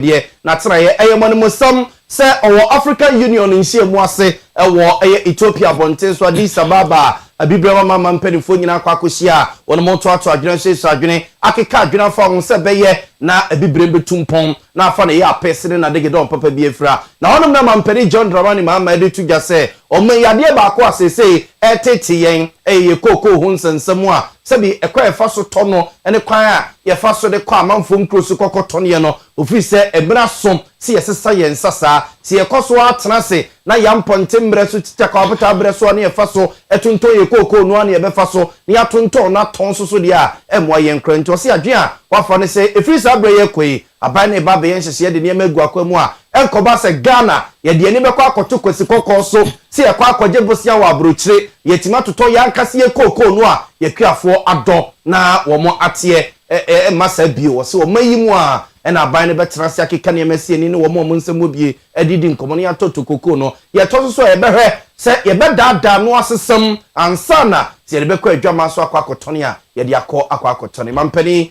deɛ n'atenaeɛ yɛ mmɔnemmosɛm sɛ ɔwɔ African Union nhyiamu ase wɔ ɛyɛ Ethiopia abɔnten so Addis Ababa a Abibirem Amanaman mpanimfoɔ nyinaa akɔ akɔhyia a wɔretoatoa adwene ahyehyɛ adwene akeka adwene afa ho sɛ ɛbɛyɛ na Abibirem bɛtu mpɔn na afa ne yaapees ne n'adagedɔn papa bi afira. Na hɔnom na Mampanin John Dramani Mahama de reto dwa sɛ ɔman yi adeɛ baako a seesei ɛretete yɛn yɛ kookoo ho nsɛnsɛm a Sɛdeɛ ɛkwan a yɛfa so tɔ no ne kwan a yɛfa so de kɔ amanfoɔ nkuro so kɔkɔtɔneɛ no, ofiri sɛ mmerɛ aso sɛ yɛsesa yɛn nsa saa. Sɛ yɛkɔ so ara tena ase na yɛn mpɔnten mmerɛ so titwa kɔ abotaa berɛ so a na yɛfa so tontɔn yɛn kookoo no ara na yɛbɛfa so na yɛatontɔn no atɔn nso so deɛ a, ɛmmoa yɛn koraa. Nti ɔse adwene a wafa ne sɛ ɛfiri saa berɛ yi rekɔ yi, Aban no reba abɛyɛ nhyehyɛɛ de nneɛma agu akwan mu a, ɛnkɔba sɛ Ghana yɛde yɛn ani bɛkɔ akɔto kwasi kɔkɔɔ so, sɛ yɛkɔ akɔgye bosea wɔ abrokyire, yɛatumi atotɔ yɛn ankasa yɛn kookoo no a yɛkuafoɔ adɔ na wɔn ateɛ ɛmma saa bio. Ɔse ɔman yi mu ara na aban no bɛtena ase akeka nneɛma asi ani ne wɔn a wɔn nsɛm wɔ bie de redi nkɔmmɔ na yɛatɔtɔ kookoo no. Deɛ ɛtɔ so so a yɛbɛhwɛ sɛ yɛbɛdaadaa ano asesam ansa na sɛ yɛde bɛkɔ adwaman so akɔ akɔtɔne a yɛde akɔ akɔ akɔtɔne. Mampanin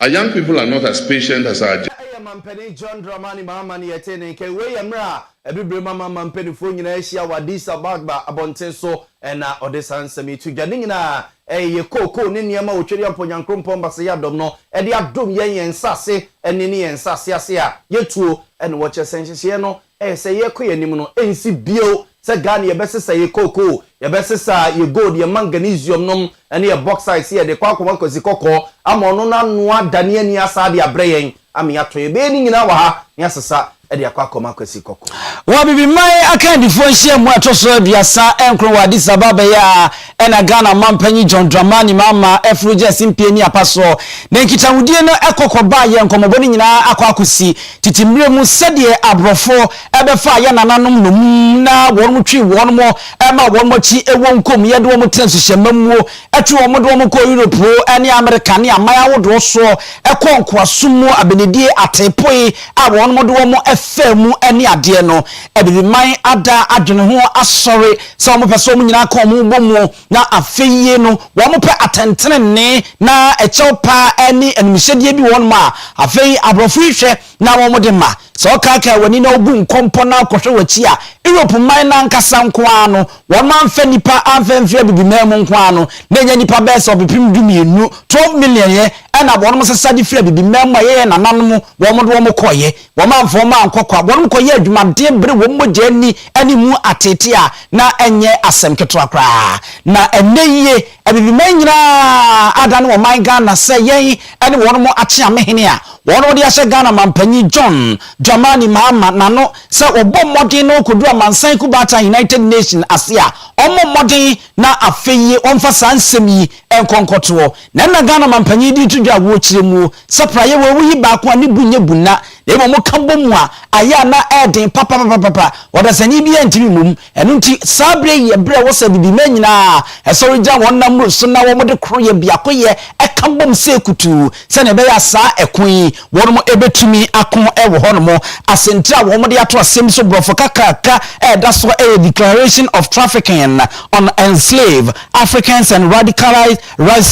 A young people are not as patient as our. Na ɛyɛ Mampanin John Dramani Mahama ne yɛtee ne nka yi. Wei yɛ mmerɛ a Abibirem aman mampanifoɔ nyinaa ahyia wɔ Addis Abagba abɔnten so na ɔde saa nsɛm yi to dwa. Ne nyinaa ɛyɛ kookoo ne nneɛma a Otweriampɔ Nyankrompɔn Basayɛ Adom no de adom yɛn, yɛn nsase ani ne yɛn nsase ase a yɛtuo na wɔkyɛ sɛ nhyehyɛeɛ no Ɛyɛ sɛ yɛkɔ yɛn anim no ɛnsi bio sɛ Ghana yɛbɛsesa yɛn cocoa, yɛbɛsesa yɛn gold, yɛn manganesium nom ne yɛn bauxite sɛ yɛde rekɔ akɔma Kwasi Kɔkɔɔ ama ɔno no anoa adane ani asan de abrɛ yɛn ama yɛatɔ. Yɛbɛyɛ ne nyinaa wɔ ha na yɛasesa de akɔ akɔma Kwasi Kɔkɔɔ. Wɔ Abibiman akandifoɔ nhyiamu a ɛtɔ so aduasa nkron wɔ Addis Ababa yi a Ɛna Ghana Mampanyin John Dramani Mahama ɛforo gye asimpie ne apasoɔ ne nkitahudie no ɛkɔ kɔbaa yɛ nkɔmɔbɔ no nyinaa akɔ akɔsi tete mmerɛ mu sɛdeɛ abrɔfo ɛbɛfaa yɛ nananom nnommum na wɔnom twee wɔnom ɛmaa wɔnom akyi ɛwɔ nkom yɛ de wɔnom tena nsuhyɛ mma muo ɛtwe wɔnom de wɔnom kɔɔ Europe ɛne Amerika ne aman ahodoɔ soɔ ɛkɔɔ nkoasom mu abenedie ateepoe a wɔnom de wɔnom ɛfaa mu ɛne adeɛ no ɛde bi man ada adwene ho asɔre sɛ wɔpɛ sɛ wɔn nyinaa ka wɔn bɔ mu na afeie no wɔpɛ atɛntenenee na ɛkyɛw paa ne animhyɛdeɛ bi wɔ hɔnom a, afei aborɔfo yi hwɛ na wɔde ma. Sɛ wɔkaakae w'ani na wɔbu nkɔmpɔ na kɔhwɛ w'akyi a, Europe man no ankasa nko ara no, wɔn amfa nnipa amfa amfiri Abibiman mu nko ara no, na ɛnyɛ nnipa bɛyɛ sɛ ɔpepem dumienu, 12 million, yɛ na wɔn sesa de firi Abibiman mu a ɛyɛ yɛn nananom wɔn de wɔn kɔeɛ. Wɔamfa wɔn ankɔ kwa, wɔnom kɔyɛɛ adwuma den bere wɔn mogya ani ne mu ateetee a na ɛnyɛ asɛm ketewa koraa. Na ɛnnɛ yie, Abibiman nyinaa adane wɔn man Ghana sɛ yɛn ne wɔnom akye amehene a wɔnom de ahyɛ Ghana Manpanyin John Dramani Mahama n'ano sɛ wɔbɔ mmɔden na wɔkɔduru amansan kubaatan United Nation ase a ɔmmɔ mmɔden na afei ɔmfa saa nsɛm yi nkɔ nkɔtoɔ na ɛna Ghana Manpanyin de reto dwa wɔ kyerɛmuo Sapra yɛ wawu yi baako a ne bu nyɛ bunna, na mmom woka bɔ mu a, ayɛ a na ɛyɛ den papapapapa. Ɔdasani biara ntumi mmɔ mu. Ɛno nti, saa bere yi yɛ bere a ɛwɔ sɛ Abibimma nyinaa sɔre gyina wɔn nna mmuru so na wɔde koroyɛ, biakoyɛ, ka bom sei kutuu, sɛnea ɛbɛyɛ a saa ɛko yi, wɔbetumi ako wɔ hɔnom. Asɛntire a wɔde ato asɛm so Borɔfo kakraka a ɛda so yɛ Declaration of Trafficking on Enslaved Africans and Radicalized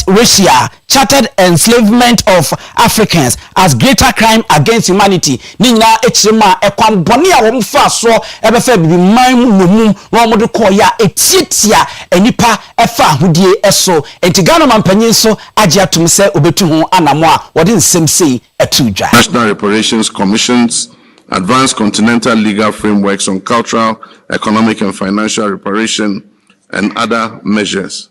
Russia, Chartered Enslavement of Africans as Greater Crime Against Humanity ne nyinaa kyerɛ mu a ɛkwan bɔne a wɔn faa soɔ bɛfaa abibiman mu nnommum na wɔn de kɔɔeɛ a ɛtiatia nnipa fa ahodie so. Enti Ghana Ɔmanpanyin nso agye atom sɛ ɔbɛtu ho anamɔ a wɔde nsɛm sei too dwa. National Reparations Commission's Advanced Continental Legal Frameworks on Cultural, Economic and Financial Reparation and Other Measures.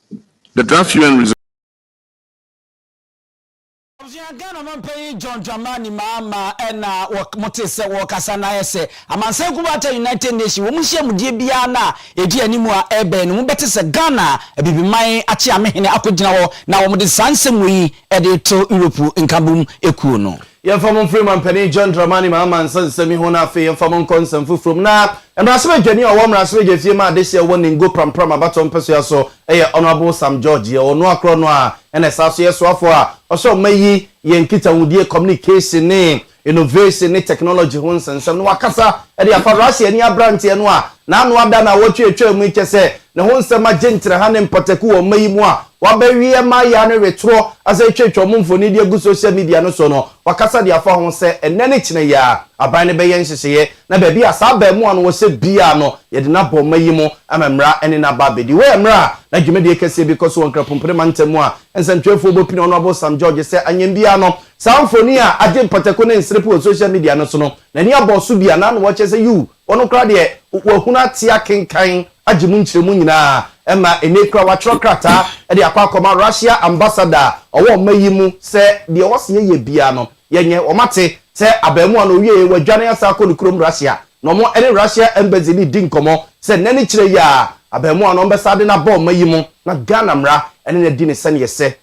The draft UN resolution. Abusua, Ghana Ɔmanpanyin John Dramani Mahama na wɔte sɛ wɔrekasa na ayɛ sɛ amansan kuroboata United Nations wɔn nhyiamudie biara no a ɛdi anim a ɛrebɛn no mobɛte sɛ Ghana Abibiman akyeame hene akɔgyina hɔ na wɔde saa nsɛm wei de reto Europe nkabom kuo no. Yɛmfa mo mfiri Mampanin John Dramani Mahama nsa nsɛm yi ho na afei yɛmfa mo nkɔ nsɛm foforɔ mu. Na Mmarahyɛbadwani a ɔwɔ Mmarahyɛbadwa fie ma adehyeɛ a ɛwɔ Ningo Prampram abatoɔ mpɛsoa so yɛ Honourable Sam George. Yɛ ɔno ara korɔ no a na ɛsan so yɛ soafoɔ a ɔhyɛ ɔma yi yɛ nkitahodie, communication ne innovation ne technology ho nsɛnsɛm na wakasa de afa Russia ni aberanteɛ no a n'ano ada nnawɔtwe a ɛtwaa mu yi kyɛ sɛ ne ho nsɛm agye nkyerɛha ne mpataku wɔ ɔma yi mu a W'aba wiɛ ma ya no retorɔ asan atwatwa wɔn mfoni de agu social media no so no, wakasa de afa ho sɛ ɛnnɛ ne kyena yi ara aban no bɛyɛ nhyehyɛeɛ na baabi a saa abaamuwa no wɔ sɛ biara no yɛde no aba ɔma yi mu ama mmara ne no aba abɛdi wɔ mmara a na dwumadie kɛseɛ bi kɔ so wɔ Nkrapompire mantam mu a nsɛmtwerɛfoɔ bɔ pini Honourable Sam George sɛ anyɛm biara no saa mfoni a agye mpataku ne nserepe wɔ social media no so no n'ani abɔ so biara na na wɔkyerɛ sɛ yuu Wɔn koraa deɛ wɔahunu ate akenkan agye mu nkyerɛmu nyinaa ɛma ɛnnɛ yi koraa wɔatwerɛ krataa de akɔ akɔma Russia ambassador a ɔwɔ ɔma yi mu sɛ deɛ ɔse yɛyɛ biara no yɛnyɛ. Wɔate sɛ abarimaa no ɔwieɛ wadwane asan akɔ ne kurom Russia na wɔn ne Russia embassy no redi nkɔmmɔ sɛ nnɛ ne kyerɛ yi ara abarimaa no wɔbɛsan de no aba ɔma yi mu na Ghana mmara ne no adi no sɛdeɛ ɛsɛ.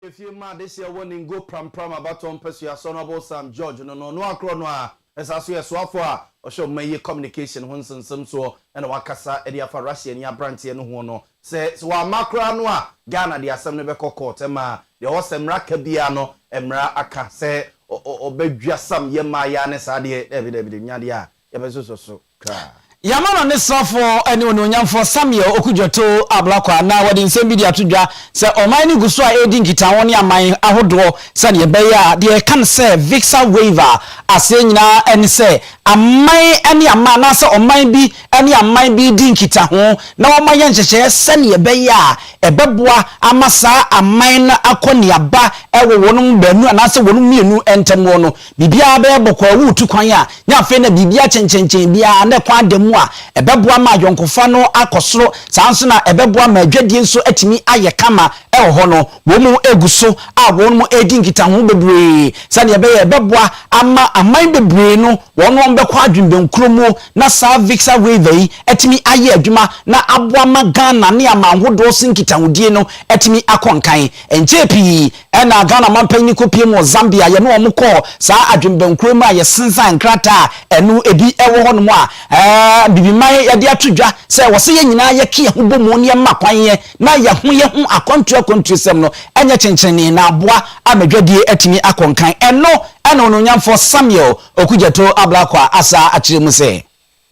Efie mma adehyeɛ wɔ ne ngo prampram abatoɔ mpasua so no ɔbosam George no no no akorɔ no a ɛsaa so yɛ soafoɔ a ɔhwɛ ɔman yi communication ho nsensem soɔ na wakasa de afa Russia ni abranteɛ no ho no sɛ sɛ wamma koraa no a Ghana de asɛm no bɛkɔ court ɛma deɛ ɔwɔ sɛ mmra ka biara no mmra aka sɛ ɔbɛdwasam yɛ mmaa yi ara ne saa deɛ daabi daabi de nya deɛ a yɛbɛsosɔ so. Yɛama no ne srafoɔ ne onuonyamfoɔ Samuel Okudzeto Ablakwa na wɔde nsɛm bi de ato dwa sɛ ɔman no gu so a ɛredi nkitaho ne aman ahodoɔ sɛdeɛ ɛbɛyɛ a deɛ ɛka no sɛ Visa Waiver aseɛ nyinaa ne sɛ aman ne aman anaasɛ ɔman bi ne aman bi redi nkitaho na wɔma yɛ nhyehyɛeɛ sɛdeɛ ɛbɛyɛ a ɛbɛboa ama saa aman no akɔ neaba wɔ wɔnom baanu anaasɛ wɔnom mmienu ntam hɔ no. Biribiara bɛyɛ bɔkɔɔ wɔ wo tu kwan a, na afei na biribi akyenkyenkyen biara, na ɛkwan da mu a, ɛbɛboa ma ayɔnkofa no akɔ soro, saa ara nso na ɛbɛboa ma adwadie nso atumi ayɛ kama wɔ hɔ no. Wɔn gu so a wɔn redi nkitaho bebree sɛdeɛ ɛbɛyɛ a ɛbɛboa ama aman bebree no wɔn wɔn bɛkɔ adwene bɛnkuro mu na saa Vixar Waiver yi atumi ayɛ adwuma na aboa ma Ghana ne aman hodoɔ so nkitahodie no atumi akɔ nkan. Ɛnkyɛɛ pii Ɛna Ghana manpanyin no kɔpiem wɔ Zambia. Yɛne wɔn kɔɔ saa adwenbankuro mu a yɛsensan nkrataa a ɛno ebi wɔ hɔnom a Bibiman de ato dwa sɛ wɔse yɛn nyinaa yɛke yɛn ho bɔmu na yɛma kwan yɛ na yɛho yɛ ho akwantuo akwantuosɛm no nyɛ kyenkyenenee na aboa ama dwadie atumi akɔ nkan. Ɛno na Onuonyamfoɔ Samuel Okudzeto Ablakwa asaa akyerɛ mu sɛ.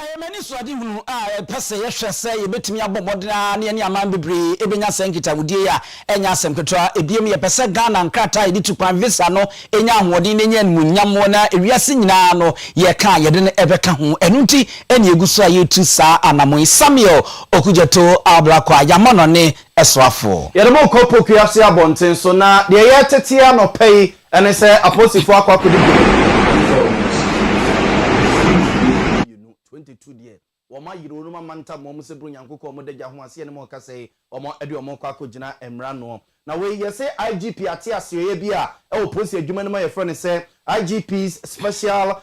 Ɛyɛ me anisoadehunu a ɛpɛ sɛ yɛhwɛ sɛ yebetumi abɔ mmɔden ara na yɛne aman bebree benya saa nkitahodie yi a ɛnyɛ asɛm ketewa. Ebiem, yɛpɛ sɛ Ghana nkrataa a yɛde tu kwan, visa, no nya ahoɔden na enya animuonyam wɔ na wiase nyinaa no yɛka a yɛde no bɛka ho. Ɛno nti na yegu so a yɛretu saa anammɔn yi. Samuel Okudzeto Ablakwa a yɛama no ne soafoɔ. Yɛde mo rekɔ Poku Ase abɔnten so na deɛ ɛyɛ tete anɔpa yi Ɛne sɛ, Apolisifo akɔ akodi dwuma wɔ Yehowa Adansefo no akyi. Efeso mmienu, twenty two deɛ, wɔayere wɔn amantam wɔ wɔn sɛ bere Onyankoko wɔn Dagya ho aseɛ no mu ɔkasa yi, wɔde wɔn rekɔ akɔgyina mmara ano. Na wei yɛ sɛ IGP ate aseɛyɛ bi a ɛwɔ polisi adwuma no mu a yɛfrɛ no sɛ IGP's Special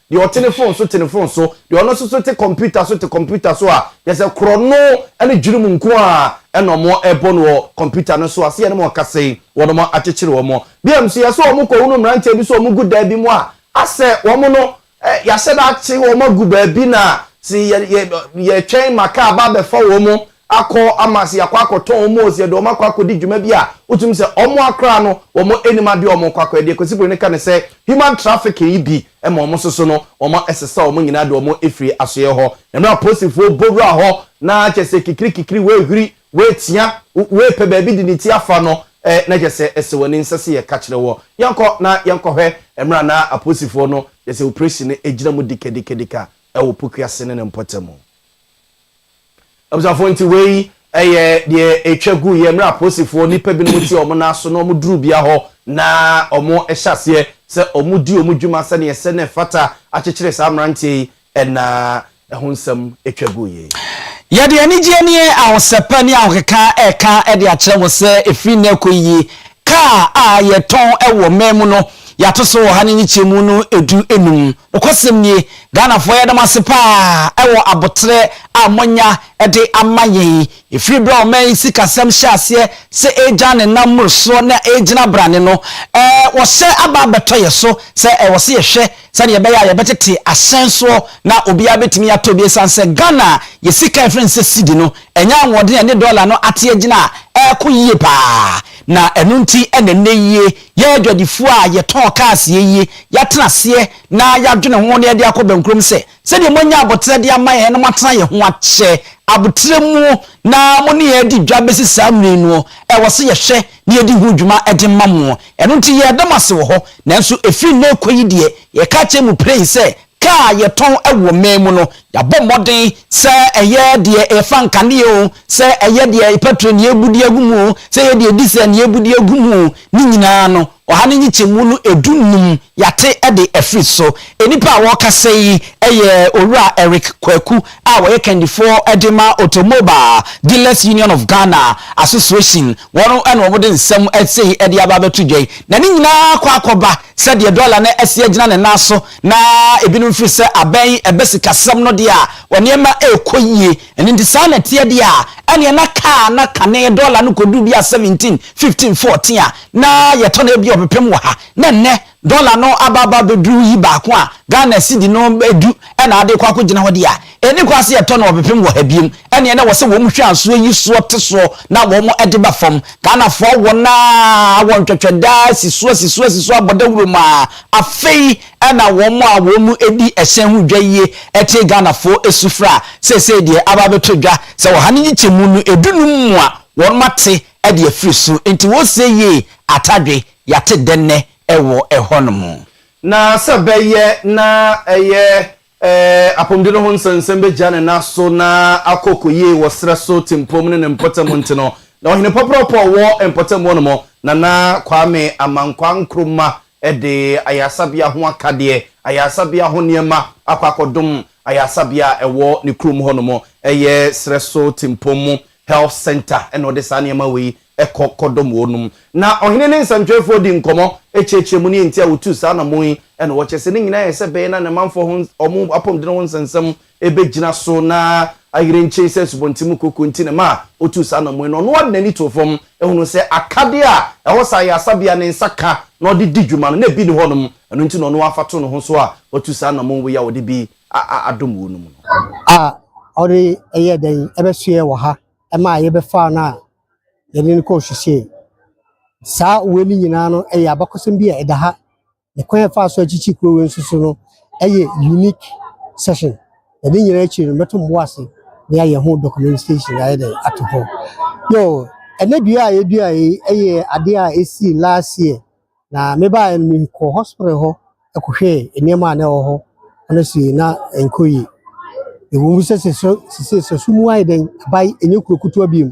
Deɛ ɔte ne fon so te ne fon so, deɛ ɔno nso so te kɔmputa so te kɔmputa so a, kyerɛ sɛ korɔno ne dwirimu nko ara na wɔbɔ no wɔ kɔmputa no so a, sɛ yɛne wɔn kasa yi, wɔakyekyere wɔn. Bio nso, yɛ sɛ wɔkɔhunu mmeranteɛ bi sɛ wɔgu dan bi mu a, asɛ wɔn no, yɛahyɛ da akye wɔn agu baabi na sɛ yɛtwɛn ma kaa ba abɛfa wɔn akɔ ama se yɛakɔ akɔtɔn wɔn oo, se yɛde wɔn akɔ akɔdi dwuma bi a, wotumi se wɔn a koraa no wɔn nnim adeɛ a wɔn rekɔ akɔyɛ. Deɛ Kwesi Broni ka ne sɛ, human trafficking yi bi ma wɔn nso so no, wɔn sesa wɔn nyinaa de wɔn firi asoeɛ hɔ. Na mmerɛ a Posifoɔ bɔ wura hɔ na kyerɛ sɛ kikiri kikiri wɔrehuri, wɔretia, wɔrepɛ baabi de ne ti afa no, na kyerɛ sɛ ɛsɛ wɔn ani, nsɛ se yɛka kyerɛ wɔn. Yɛnkɔ na yɛnkɔhwɛ mmerɛ a na Aposifoɔ no, kyerɛ sɛ operation no gyina mu dikadikadika wɔ Puku ase ne ne mpɔtamu. Abusuafoɔ nti wei yɛ deɛ ɛtwa gu yɛ mmerɛ aposifoɔ nnipa binom ti wɔn nan so na wɔn duru bia hɔ na wɔn hyɛ aseɛ sɛ wɔn di wɔn dwuma sɛdeɛ ɛsɛ na ɛfata akyekyere saa mmeranteɛ yi ɛna ɛho nsɛm ɛtwa gu yɛ yi. Yɛde anigyeɛ ne ahosɛpɛ ne ahokeka ɛka de akyerɛ mo sɛ ɛfiri nnɛ ɛkɔ yi kaa a yɛtɔn wɔ man mu no yɛato so wɔ ha ne nyikyɛmu no ɛdu enum. Nokwasɛm nie, Ghanafoɔ yɛda mo ase paa wɔ aboterɛ a moanya de ama yɛn yi. Ɛfiri berɛ a ɔman yi sikasɛm hyɛɛ aseɛ sɛ ɛregya ne nan mmorosoɔ na ɛregyina brane no, wɔhyɛ aba abɛtɔ yɛn so sɛ ɛwɔ sɛ yɛhwɛ sɛdeɛ ɛbɛyɛ a yɛbɛtete ahyɛn soɔ na obiara bɛtumi atɔ bi. Ɛsiane sɛ Ghana a yɛn sika a yɛfrɛ no sɛ Cedi no anya ahoɔden a ɛne dɔla no ate agyina a ɛreko yie paa na ɛno nti na nnɛ yi Yɛn adwadifoɔ a yɛtɔn cars yɛ yie, yɛatena aseɛ na yɛadwene ho na yɛde akɔ bɛnkurom sɛ, sɛdeɛ moanya aboterɛ de ama yɛn na moatena yɛn ho akyɛ aboterɛ mu na mo ne yɛn adi dwa bɛsi saa mmerɛ yi no, ɛwɔ sɛ yɛhwɛ na yɛdi ho dwuma de ma mo. Ɛno nti yɛreda mo ase wɔ hɔ, nanso ɛfiri nnɛ rekɔ yi deɛ, yɛka akyerɛ mo piree sɛ Kaa a yɛtɔn wɔ man mu no, yɛabɔ mmɔden, sɛ ɛyɛ deɛ ɛfa nkanea oo, sɛ ɛyɛ deɛ pɛtro ne yɛbu de agu mu oo, sɛ ɛyɛ deɛ disɛl ne yɛbu de agu mu oo, ne nyinaa no, ɔha ne nkyekyɛmu no du nnum, yɛate de afiri so. Nnipa a wɔrekasa yi yɛ Owura Eric Kwaku a wɔyɛ kandifoɔ de ma Automobile Dealers Union of Ghana Association, wɔn na wɔde nsɛm sei de aba abɛto dwa yi, na ne nyinaa kɔ akɔba. Sɛdeɛ dɔla no asi agyina ne nan so na ebinom firi sɛ abɛn ɛbɛ sikasɛm no deɛ a, wɔn nneɛma rekɔ yie. Ɛno nti, saa na ɛteɛ deɛ a, ɛnneɛ na kaa na kane dɔla no kɔduru bi a 17, 15, 14 a, na yɛtɔ no ebia ɔpepem wɔ ha. Na nnɛ, dɔla no aba aba abɛduru yi baako a, Ghana sidi no du na ade rekɔ akɔgyina hɔ deɛ a, Ɛni hɔ a sɛ yɛtɔ no ɔpepem wɔ ha biom ɛneɛ na wɔsɛ wɔn hwɛ ansoɔ yi soɔ te soɔ na wɔn de ba fam. Ghanafoɔ wɔn aa wɔn twɛtwɛ daa asi soɔ asi soɔ asi soɔ abɔ dawuro mu aa afei ɛna wɔn a wɔn di ɛhyɛn ho dwa yie ɛtee Ghanafoɔ sufrɛ a seesei deɛ aba abɛtɔ dwa sɛ ɔha ne nkyekyɛmu no ɛdu num mu a wɔn ate ɛde afiri so nti wɔresie yie atadwe yɛate dɛnnɛ ɛwɔ ɛhɔ nom. Na sɛ bɛyɛ na ɛyɛ Ee, apɔmuden no ho nsɛnsɛm begya ne nan so na akɔ koyie wɔ serɛ so tempom ne ne mpɔtam nti no, na ɔhene pɔprɔpɔ a ɔwɔ mpɔtam hɔ no mu, Nana Kwame Amankwah Nkrumah de ayaresabea ho akadeɛ, ayaresabea ho nneɛma akɔ akɔdom ayaresabea a ɛwɔ ne kurom hɔ no mu. Ɛyɛ serɛ so tempom health centre na ɔde saa nneɛma wei ɛkɔ kɔdom wɔnom. Na ɔhene ne nsɛmtwerɛfoɔ dii nkɔmmɔ, kyerɛkyerɛɛ mu, ne enti a wɔtuu saa anammɔn yi, na wɔkyerɛɛ sɛ ne nyinaa yɛ sɛ ɛbɛyɛ na ne manfoɔ ho wɔn apɔmuden ho nsɛnsɛm bɛgyina so na ayere nkyee sɛ asubɔnten mu kooko nti na ɛma wɔtuu saa anammɔn yi. Na ɔno ara de n'ani too fam hunuu sɛ akadeɛ a ɛhɔ saa yɛ asabea a ne nsa ka na ɔde di dwuma no, na ebi nni hɔnom, ɛno nti na ɔno ara fa too ne ho so a watu saa anammɔn wei a ɔde bi adom wɔnom no. A ɔde yɛɛ dɛn bɛsoɛɛ wɔ ha? ɛma a yɛbɛfaa no a yɛde no kɔɔ suhyɛn. Saa wei no nyinaa no ɛyɛ abakɔsɛm bi a ɛda ha. Ne kwan a yɛfaa so akyekye kuro wei nso so no ɛyɛ unique session. Na ne nyinaa akyiri no mɛto mo bo ase na yɛayɛ ho documentation yɛayɛ dɛ ato hɔ. Yo, ɛnɛ dua a yɛdua yi ɛyɛ adeɛ a ɛsii last year. Na mebaeɛ no, mekɔɔ hospital hɔ kɔhwɛɛ nneɛma a na ɛwɔ hɔ na see na ɛnkɔ yie. Ɛwɔ mu sɛ sesei sɛ so mu ayɛ dɛn, aba yi ɛnyɛ kuro kutewa bio.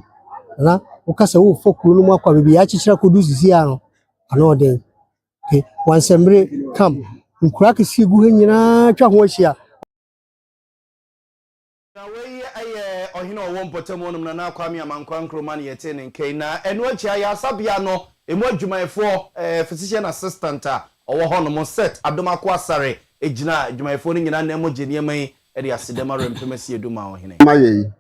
Na woka sɛ worefa kuro no mu akɔ baabi a yɛakyekyere akɔdu sesei a no, ano yɛ den. Okay, Wansɛmbere camp, nkuro akɛseɛ gu hɔ nyinaa atwa ho ahyia. Na wei yɛ ɔhene a ɔwɔ mpɔtam hɔ nom, Nana Kwame Amankwah Nkrumah na yɛtee ne nka yi. Na ɛno akyi, ayaresabea no ɛmu adwumayɛfoɔ, physician assistant a ɔwɔ hɔ nom, Seth Adom Akoasare gyinaa adwumayɛfoɔ no nyinaa nan mu gyee nneɛma yi de asedɛm awerɛmfem asiedum maa ɔhene. ma yɛn yi.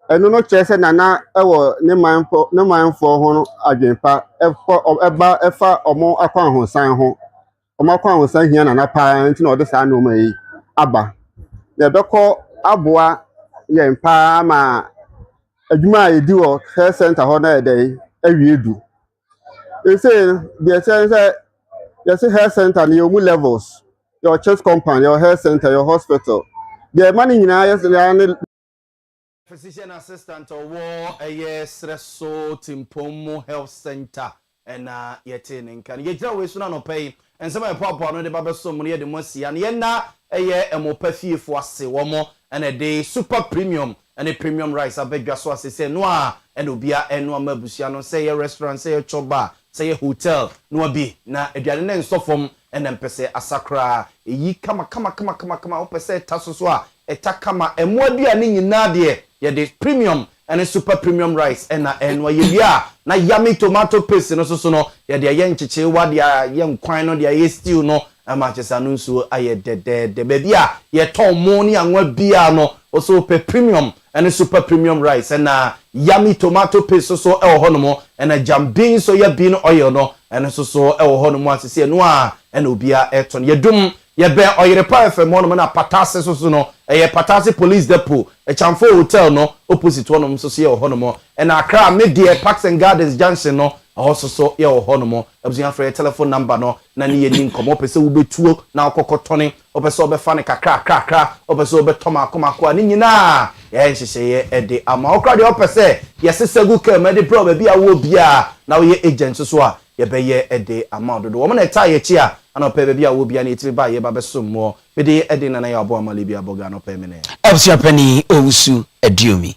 Ɛno no kyerɛ sɛ Nana wɔ ne manfo ne manfoɔ ho adwene pa, ɛfa wɔn akwahosan ho, wɔn akwahosan hia Nana pa ara nti na ɔde saa nneɛma yi aba. Na ɛbɛkɔ aboa yɛn pa ara ma adwuma a yɛdi wɔ health center hɔ no ayɛ dɛn awie du. Ɛsei no, deɛ ɛkyɛ ne sɛ yɛse health center no yɛwɔ mu levels. Yɛwɔ church compound, yɛwɔ health center, yɛwɔ hospital. Deɛ ɛma no nyinaa yɛ saa ne Physician assistant a ɔwɔ ɛyɛ serɛ so Timpong mu health center na yɛtee ne nka no. Yɛgyina wei so no anɔpa yi, nsɛm a yɛpoa poa no de ba bɛsom mo no yɛde mo asi ha no yɛnna ɛyɛ Ɛmopa fiefo ase, wɔn na ɛde super premium ne premium rice aba dwa so a seesei ɛno ara na obiara ɛrenoa ma abusua no, sɛ ɛyɛ restaurant, sɛ ɛyɛ chop bar, sɛ ɛyɛ hotel noa bi na aduane no nsɔ fam Ɛna mpɛ sɛ asa koraa. Ɛyi kama kama kama kama kama. Wo pɛ sɛ ɛta so so a, ɛta kama. Ɛmmoa aduane nyinaa deɛ, yɛde premium ɛne super premium rice ɛna ɛnoa. Yɛ wie a, na yummy tomato paste no so so no, yɛde ayɛ nkyekyerewa, de ayɛ nkwan no, de ayɛ stew no, ɛma kyerɛ sɛ ano nsuo ayɛ dɛdɛɛdɛ. Baabi a yɛtɔn mo ne anwa biara no, wo so wo pɛ premium ɛne super premium rice, ɛna yummy tomato paste nso so wɔ hɔnom, ɛna jam bean so yɛ bean oil no, ɛno nso so wɔ hɔnom a sisi ɛno a ɛna obia ɛtɔn. Yɛdum, yɛbɛn Ɔyere Pa FM hɔnom, ɛna Pataase nso so no, ɛyɛ Pataase Police Depot, Ɛkyamfo Hotel no opposite hɔnom nso so yɛwɔ hɔnom, ɛna Accra Me Deɛ Parks and Gardens junction no, ɛhɔ nso so yɛwɔ hɔnom. Abusua frɛ yɛ telephone number no na ne yɛ ni nkɔmɔ, wopɛ sɛ wobɛtuo na wokɔkɔ tɔne Wopɛ sɛ wobɛfa no kakrakrakra, wopɛ sɛ wobɛtɔ mako mako a, ne nyinaa yɛayɛ nhyehyɛeɛ de ama wo. Koraa deɛ wopɛ sɛ yɛsesa gu kaa mu de brɛ wo baabi a wowɔ biara, na woyɛ agent nso so a, yɛbɛyɛ de ama wo dodo. Wɔn na ɛtaa yɛ akyi a, ɛna ɔpɛ baabi a wowɔ biara no yɛtumi ba a yɛba bɛsom woɔ. Me din yɛ Edin Nana Yaw Boamah Libya Bɔga anɔpa mene. Abusua Panin Owusu Aduomi.